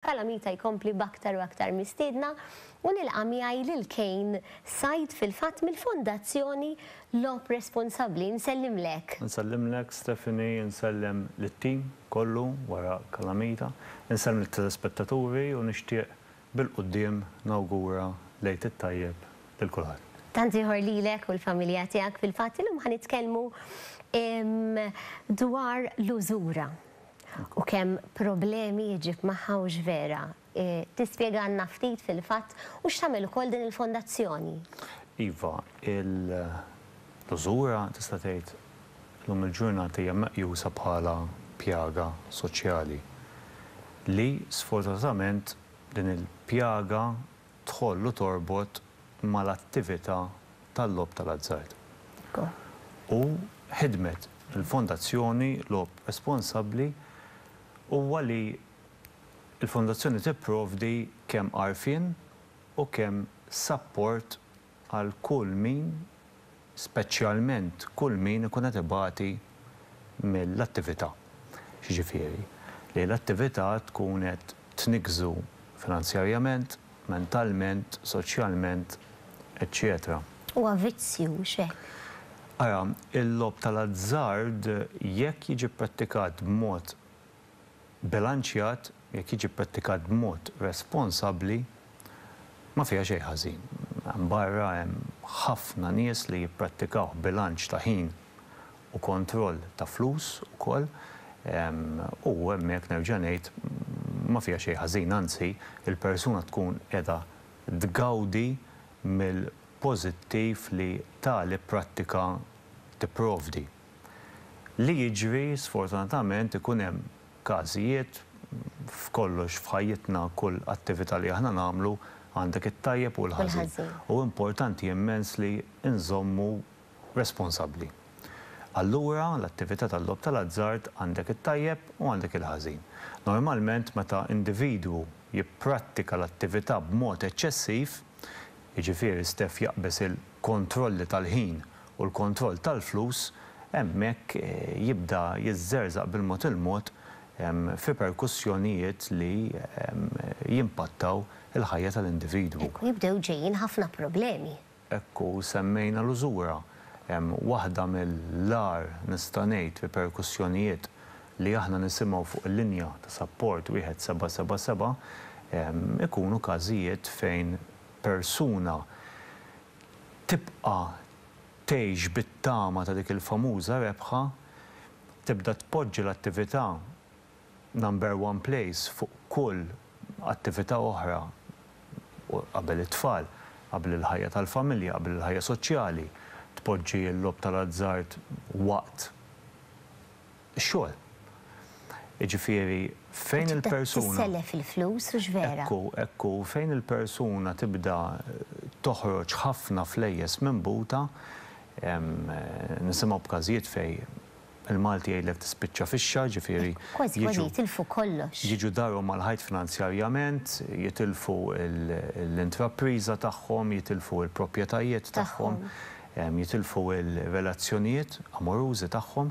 Calamita jkompli b'aktar u aktar mistiedna u nilqa' miegħi lil Cain Said fil-fatt mill-Fondazzjoni Logħob Responsabbli. Insellimlek. Insellimlek Stephanie, insellem lit-tim kollu wara Calamita, insellem lit-telespettaturi u nixtieq bil-quddiem nawgura l-Għid it-Tajjeb lil kulħadd. Tant ieħor lilek u l-familja tiegħek. Fil-fatt illum ħa nitkellmu dwar l-użura. U kemm problemi iġġib magħha hux vera? Tispjegalna ftit fil-fatt u x'tagħmel ukoll din il-fondazzjoni? Iva, il-użura tista' tgħid llum il-ġurnata hija meqjusa bħala pjaga soċjali li sfortunatament din il-pjaga tħollu torbot mal-attività tal-logħob tal-azzard u ħidmet il-Fondazzjoni Logħob Responsabbli huwa li l-Fondazzjoni tipprovdi kemm għarfien u kemm sapport għal kull min, speċjalment kull min ikun qed ibati mill-attività, jiġifieri li l-attività tkun qed tniggżu finanzjarjament, mentalment, soċjalment, eċċetera. Huwa vizzju, mhux hekk? Ara, il-logħob tal-azzard, jekk jiġi pprattikat b'mod bilanċjat, jekk jiġi pprattikat b'mod responsabbli, ma fiha xejn ħażin. Hemm barra hemm ħafna nies li jipprattikawh bilanċ ta' ħin u kontroll ta' flus ukoll u hemmhekk nerġa' ngħid ma fiha xejn ħażin, anzi il-persuna tkun qiegħda tgawdi mill-pożittiv li tali prattika tipprovdi. Li jiġri sfortunatament ikun hemm każijiet, f'kollox f'ħajjitna kull attività li aħna nagħmlu għandek it-tajjeb u l-ħażin u importanti immens li nżommu responsabbli. Allura l-attività tal-logħob tal-azzard għandek it-tajjeb u għandek il-ħażin. Normalment meta individwu jipprattika l-attività b'mod eċċessiv, jiġifieri Steph jaqbeż il-kontrolli tal-ħin u l-kontroll tal-flus, hemmhekk jibda jiżżerżaq bil-mod il-mod f'riperkussjonijiet li jimpattaw il-ħajja tal-individwu. U jibdew ġejjin ħafna problemi. Hekk u semmejna l-użura. Waħda mill-agħar, nista' ngħid, riperkussjonijiet li aħna nisimgħu fuq il-linja ta' sapport 1777 ikunu każijiet fejn persuna tibqa' tgħix bit-tama ta' dik il-famuża rebħa, tibda tpoġġi l-attività number one place fuq kull attività oħra qabel it-tfal, qabel il-ħajja tal-familja, qabel il-ħajja soċjali, tpoġġi l-logħob tal-azzard waqt. ix-xogħol. Jiġifieri fejn il-persuna. Tibda tissellef il-flus, hux vera? Hekk hu, hekk hu. Fejn il-persuna tibda toħroġ ħafna flejjes minn buta, nisimgħu b'każijiet fejn il-Malti jgħidlek tispiċċa fixxa, jiġifieri. Kważi kważi jitilfu kollox. Jiġu darhom mal-ħajt finanzjarjament, jitilfu l-intrapriża tagħhom, jitilfu l-proprjetajiet tagħhom. jitilfu r-relazzjonijiet amorużi tagħhom,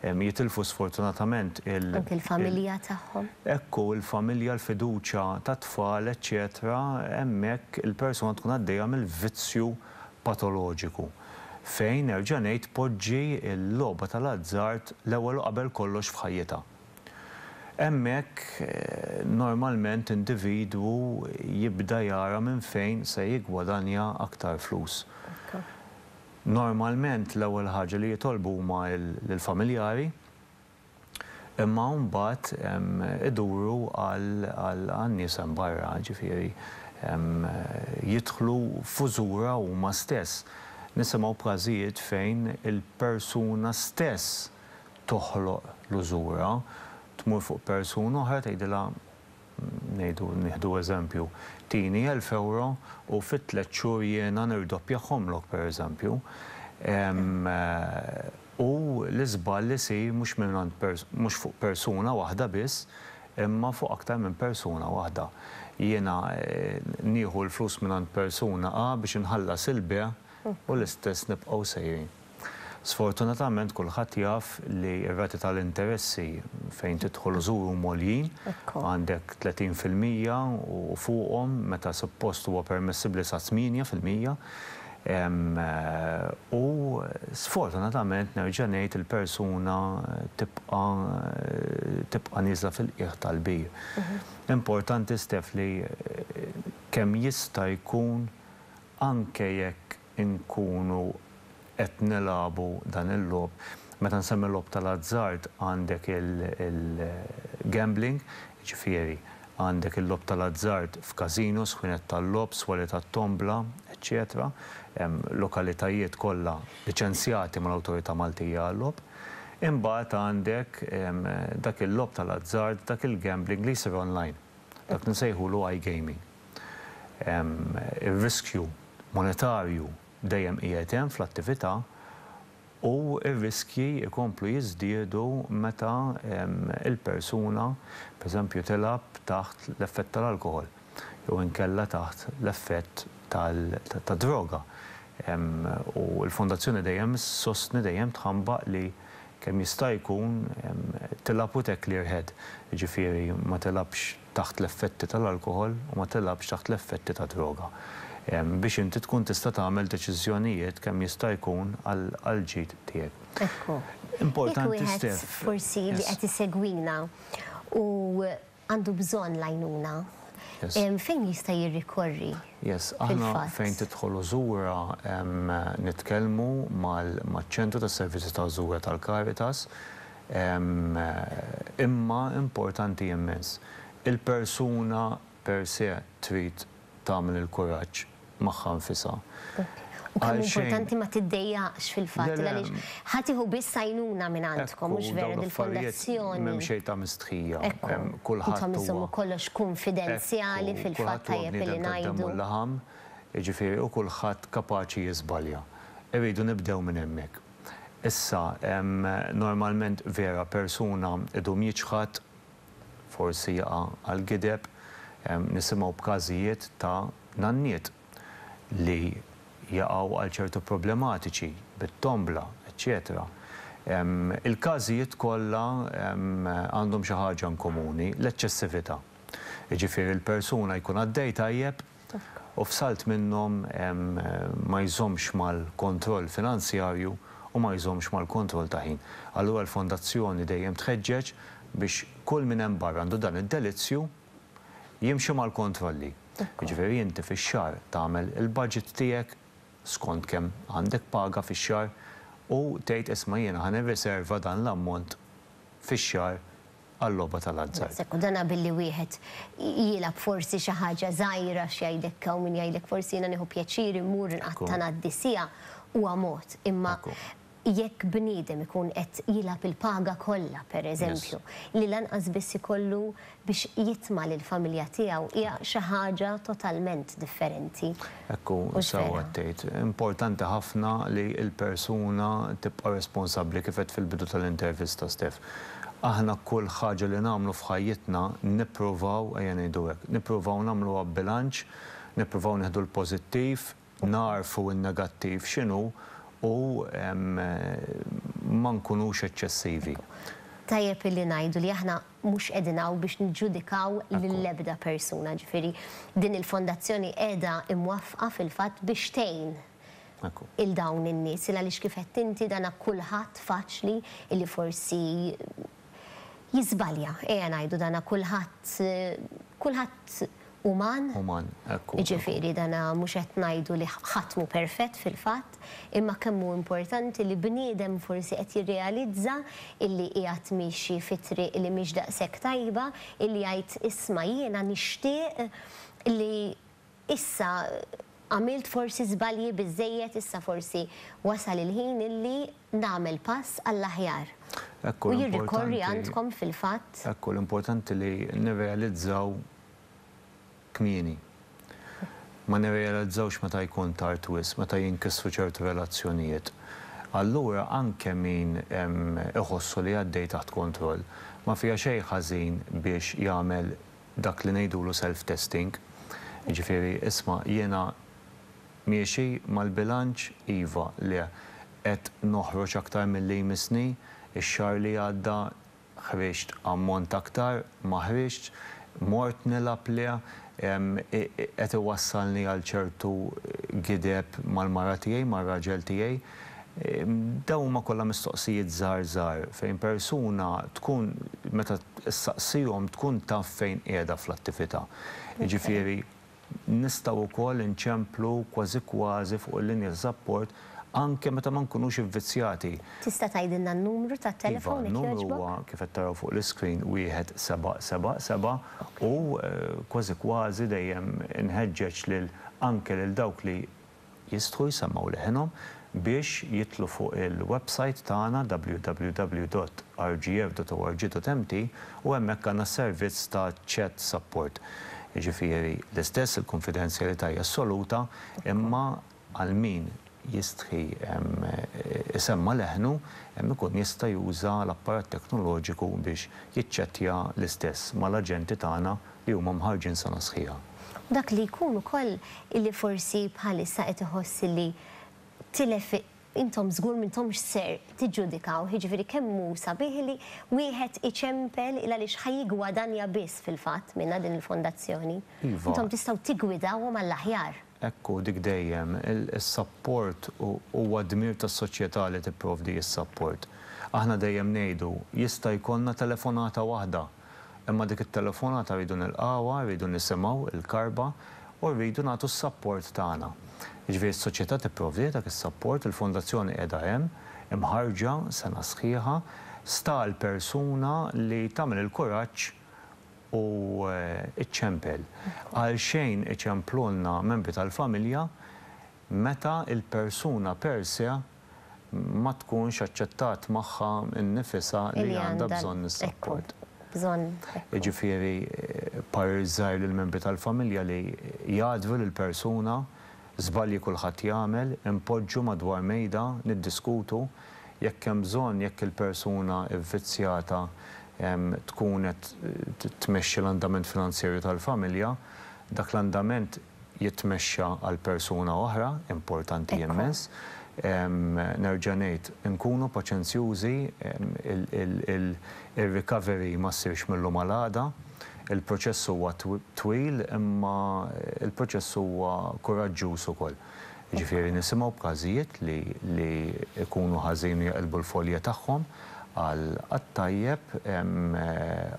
jitilfu sfortunatament il-. Anki l-familja tagħhom. Hekk hu, il-familja, l-fiduċja tat-tfal, eċċetera Hemmhekk il-persuna tkun għaddejja mill-vizzju patoloġiku. Fejn, nerġa' ngħid, tpoġġi l-logħba tal-azzard l-ewwel u qabel kollox f'ħajjitha. Hemmhekk, normalment individwu jibda jara minn fejn se jiggwadanja aktar flus. Normalment l-ewwel ħaġa li jitolbu huma l-familjari, imma mbagħad iduru għan-nies hemm barra, ġifieri jidħlu f'użura huma stess. Nisimgħu b'każijiet fejn il-persuna stess toħloq l-użura, tmur fuq persuna oħra tgħidilha, ngħidu, nieħdu eżempju, tini elf ewro u fi tliet xhur jiena nirdoppjahomlok, pereżempju. U l-iżball isir mhux mingħand mhux fuq persuna waħda biss, imma fuq aktar minn persuna waħda. Jiena nieħu l-flus mingħand persuna A biex inħallas il-bejgħ u l-istess nibqgħu sejrin. Sfortunatament kulħadd jaf li r-rati tal-interessi fejn tidħol u żur huma għoljin, għandek 30 fil-mija u fuqhom meta suppost huwa permessibbli sa 8 fil-mija. U sfortunatament nerġa' ngħid il-persuna tibqa' tibqa' nieżla fil-qiegħ tal-bir. Importanti Steph li kemm jista' jkun anke jekk inkunu qed nilagħbu dan il-logħob. Meta nsemmi l-logħob tal-azzard għandek il-gambling, jiġifieri għandek il-logħob tal-azzard f'casinos, ħwienet tal-logħob, swali tat-tombla, eċċetera Lokalitajiet kollha liċenzjati mal-Awtorità Maltija għal-Logħob. Imbagħad għandek dak il-logħob tal-azzard, dak il-gambling li jsir online, dak li nsejħulu iGaming. Ir-riskju monetarju dejjem qiegħed hemm fl-attività u r-riskji jkomplu jiżdiedu meta l-persuna, pereżempju, tilgħab taħt l-effett tal-alkoħol jew inkella taħt l-effett tad-droga. U l-Fondazzjoni dejjem issostni, dejjem tħambaq li kemm jista' jkun tilgħab u te clear head, jiġifieri ma tilgħabx taħt l-effetti tal-alkoħol u ma tilgħabx taħt l-effetti ta' droga biex inti tkun tista' tagħmel deċiżjonijiet kemm jista' jkun għall-ġid tiegħek. Ekku. Jekk wieħed forsi li qed isegwina u għandu bżonn l-għajnuna, fejn jista' jirrikorri fil-fatt? Yes. Aħna fejn tidħol u żura nitkellmu maċ-Ċentru tas-Servizzi ta' Żura tal-Caritas. Imma importanti immens. Il-persuna per se trid tagħmel il-kuraġġ magħha nfisha. U kemm importanti ma tiddejjaqx fil-fatt li għaliex ħa tieħu biss għajnuna minn għandkom, mhux vera dil-fondazzjoni. M'hemm xejn ta' mistħija. Ekku. Kulħadd. Intom iżommu kollox kunfidenzjali fil-fatt tajjeb li ngħidu. Kulħadd huwa bniedem tad-demm u l-laħam, jiġifieri u kulħadd kapaċi jiżbalja. Irridu nibdew minn hemmhekk. Issa, normalment vera persuna idum jiċħad, forsi jaqa' għall-gideb, nisimgħu b'każijiet ta' nanniet li jaqgħu għal ċertu problematiċi bit-tombla, eċċetera. Il-każijiet kollha għandhom xi ħaġa inkomuni, l-eċċessività. Jiġifieri l-persuna jkun għaddej tajjeb, u f'salt minnhom ma jżommx mal-kontroll finanzjarju u ma jżommx mal-kontroll ta' ħin. Allura l-Fondazzjoni dejjem tħeġġeġ biex kull min hemm barra għandu dan id-delizzju jimxi mal-kontrolli. Jiġifieri inti fix-xahar tagħmel il-budget tiegħek skont kemm għandek paga fix-xahar u tgħid isma' jiena ħa nirriserva dan l-ammont fix-xahar għal-logħba tal-azzard. Daqshekk, u dan billi wieħed jilgħab forsi xi ħaġa żgħira, x'jgħidlek hawn min jgħidlek forsi jiena nieħu pjaċir immur inqatta' ngħaddi siegħa, huwa mod, imma jekk bniedem ikun qed jilgħab il-paga kollha, pereżempju, li lanqas biss ikollu biex jitma' lill-familja tiegħu hija xi ħaġa totalment differenti. Hekk hu, sew qed tgħid. Importanti ħafna li l-persuna tibqa' responsabbli kif għedt fil-bidu tal-intervista, Steph. Aħna kull ħaġa li nagħmlu f'ħajjitna nippruvaw, ejja ngħidu hekk, nippruvaw nagħmluha b'bilanċ, nippruvaw nieħdu l-pożittiv, nagħrfu n-negattiv x'inhu u ma nkunux eċċessivi. Tajjeb illi ngħidu li aħna Mhux qegħdin hawn biex niġġudikaw lill-ebda persuna, ġifieri din il-fondazzjoni qiegħda imwaffqa fil-fatt biex tgħin 'il dawn in-nies, 'il għaliex kif għedt inti dan kulħadd faċli li forsi jiżbalja, ejja ngħidu dan kulħadd kulħadd uman. Uman, hekk hu. Jiġifieri dana mhux qed ngħidu li ħadd mhu perfett fil-fatt, imma kemm hu importanti li bniedem forsi qed jirrealizza illi qiegħed miexi fi triq li mhix daqshekk tajba, illi jgħid isma' jiena nixtieq li issa għamilt forsi żbalji biżżejjed, issa forsi wasal il-ħin illi nagħmel pass għall-aħjar u jirrikorri għandkom fil-fatt. Hekk hu l-importanti li nirrealizzaw kmieni. Ma nirrealizzawx meta jkun tard wisq, meta jinkisru ċertu relazzjonijiet. Allura anke min iħossu li għaddej taħt kontroll, ma fiha xejn ħażin biex jagħmel dak li ngħidulu self-testing, jiġifieri isma' jiena, Miexi mal-bilanċ? Iva, le. Qed noħroġ aktar milli jmissni? Ix-xahar li għadda ħriġt ammont aktar? Ma ħriġtx. Mort nilgħab? Le. Qed iwassalni għal ċertu gideb mal-mara tiegħi, mar-raġel tiegħi? Dawn huma kollha mistoqsijiet żgħar żgħar fejn persuna tkun meta ssaqsihom tkun taf fejn qiegħda fl-attività. Jiġifieri. Nistgħu wkoll inċemplu kważi kważi fuq il-linja ta' sapport anke meta ma nkunux ivvizzjati. Tista' tgħidilna n-numru tat-telefown jekk jogħġbok? Iva, n-numru huwa kif qed taraw fuq l-iscreen wieħed seba' seba' seba' u kważi kważi dejjem inħeġġeġ lil anke lil dawk li jistħu jsemmgħu leħinhom biex jidħlu fuq il-websajt tagħna www.rgf.org.mt u hemmhekk għandna servizz ta' chat support. Jiġifieri l-istess il-kunfidenzjalità hija assoluta imma għal min jistħi jsemma' leħnu ikun jista' juża l-apparat teknoloġiku biex jiċċettja l-istess mal-aġenti tagħna li huma mħarrġin sena sħiħa. Dak li jkun ukoll illi forsi bħalissa qed iħoss illi tilef intom żgur m'intomx ser tiġġudikawh, jiġifieri kemm hu sabiħ illi wieħed iċempel il għaliex ħa jiggwadanja biss fil-fatt minnha din il-fondazzjoni. Iva. Intom tistgħu tiggwidawhom għall-aħjar. Hekk hu dik dejjem. Is-sapport huwa dmir tas-soċjetà li tipprovdi s-sapport. Aħna dejjem ngħidu, jista' jkollna telefonata waħda. Imma dik it-telefonata rridu nilqgħuha, rridu nisimgħu, il-karba, u rridu nagħtu s-sapport tagħna. Jiġifieri s-soċjetà tipprovdi dak is-sapport, il-fondazzjoni qiegħda hemm, imħarrġa, sena sħiħa, sta għall-persuna li tagħmel il-kuraġġ u ċċempel. Għalxejn iċemplulna membri tal-familja meta l-persuna per se ma tkunx aċċettat magħha nnifisha li għandha bżonn is-sapport. Jiġifieri parir żgħir lill-membri tal-familja li jgħaddru lill-persuna, żbalji kulħadd jagħmel, inpoġġu madwar mejda niddiskutu jekk hemm bżonn jekk il-persuna vvizzjata tkun qed tmexxi l-andament finanzjerju tal-familja, dak l-andament, jitmexxa għal persuna oħra, importanti immens. Nerġa' ngħid, inkunu paċenzjużi, ir-recovery ma ssirx mil-lum għal għada. Il-proċess huwa twil imma l-proċess huwa kuraġġuż ukoll. Jiġifieri nisimgħu b'każijiet li jkunu ħażin u jaqilbu l-folja tagħhom għat-tajjeb,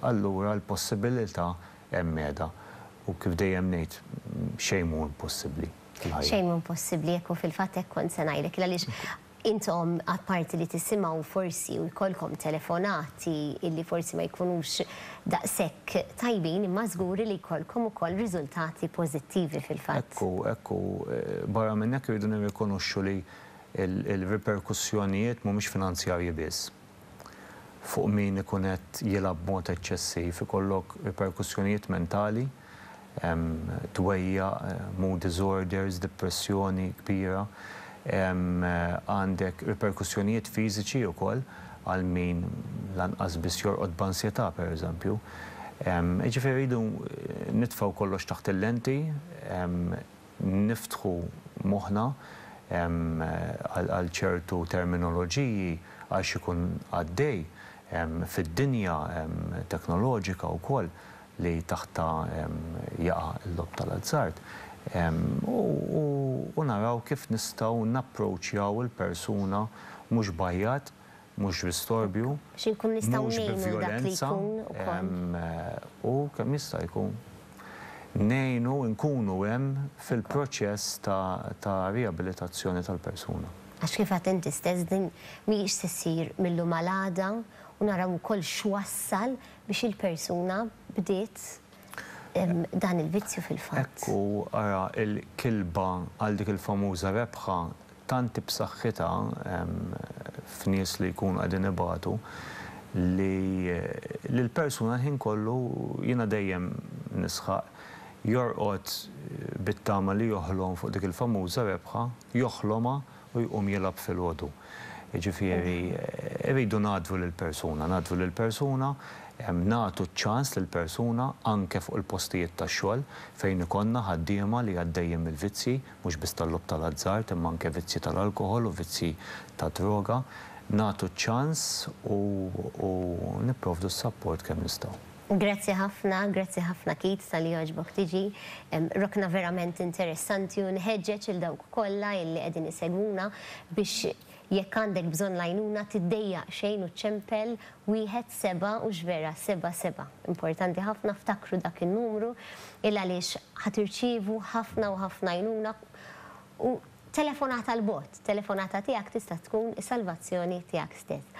allura l-possibilità Hemm għeda, u kif dejjem ngħid, xejn mhu impossibbli fil-ħajja. Xejn mhu impossibbli, hekk hu fil-fatt hekk kont se ngħidlek, għaliex intom apparti li tisimgħu forsi u jkollkom telefonati illi forsi ma jkunux daqshekk tajbin imma żgur li jkollkom ukoll riżultati pożittivi fil-fatt. Hekk hu, hekk hu. Barra minn hekk irridu nirrikonoxxu li l-riperkussjonijiet mhumiex finanzjarji biss. fuq min ikun qed jilgħab b'mod eċċessiv ikollok riperkussjonijiet mentali, dwejjaq, mood disorders, depressjoni kbira, għandek riperkussjonijiet fiżiċi wkoll għal min lanqas biss jorqod b'ansjetà pereżempju. Jiġifieri rridu nitfgħu kollox taħt il-lenti. niftħu moħħna għal ċertu terminoloġiji għal x'ikun għaddej fid-dinja teknoloġika wkoll li taħtha jaqa' l-logħob tal-azzard u naraw kif nistgħu napproċċjaw il-persuna mhux b'għajjat Mhux bi storbju. Biex inkunu nistgħu ngħinu dak li jkun ukoll. U kemm jista' jkun ngħinu nkunu hemm fil-proċess ta' riabilitazzjoni tal-persuna. Għax kif għedt inti stess din mhijiex se ssir mil-lum għal għada u naraw ukoll x'wassal biex il-persuna bdiet dan il-vizzju fil-fatt. Hekk hu, ara l-kilba għal dik il-famuża rebħa, tant hi b'saħħitha f'nies li jkunu qegħdin ibatu, li l-persuna l-ħin kollu, jiena dejjem nisħaq, jorqod bit-tama li joħlom fuq dik il-famuża rebħa, joħlomha u jqum jilgħab filgħodu. Jiġifieri rridu ngħaddru lill-persuna, ngħaddru lill-persuna, nagħtu ċ-ċans lill-persuna anke fuq il-postijiet tax-xogħol fejn ikollna ħaddiema li għaddejjin mill-vizzji, mhux biss tal-logħob tal-azzard imma anke vizzji tal-alkoħol u vizzji tad-droga, nagħtu ċ-ċans u nipprovdu s-sapport kemm nistgħu. Grazzi ħafna, grazzi ħafna Keith talli għaġbok tiġi. Rokna verament interessanti u nħeġġeġ lil dawk kollha illi qegħdin isegwuna biex jekk għandek bżonn l-għajnuna tiddejjaq xejn u ċċempel wieħed seba' hux vera seba' seba'. Importanti ħafna ftakru dak in-numru il għaliex ħa tirċievu ħafna u ħafna għajnuna u telefonata l-bogħod, telefonata tiegħek tista' tkun is-salvazzjoni tiegħek stess.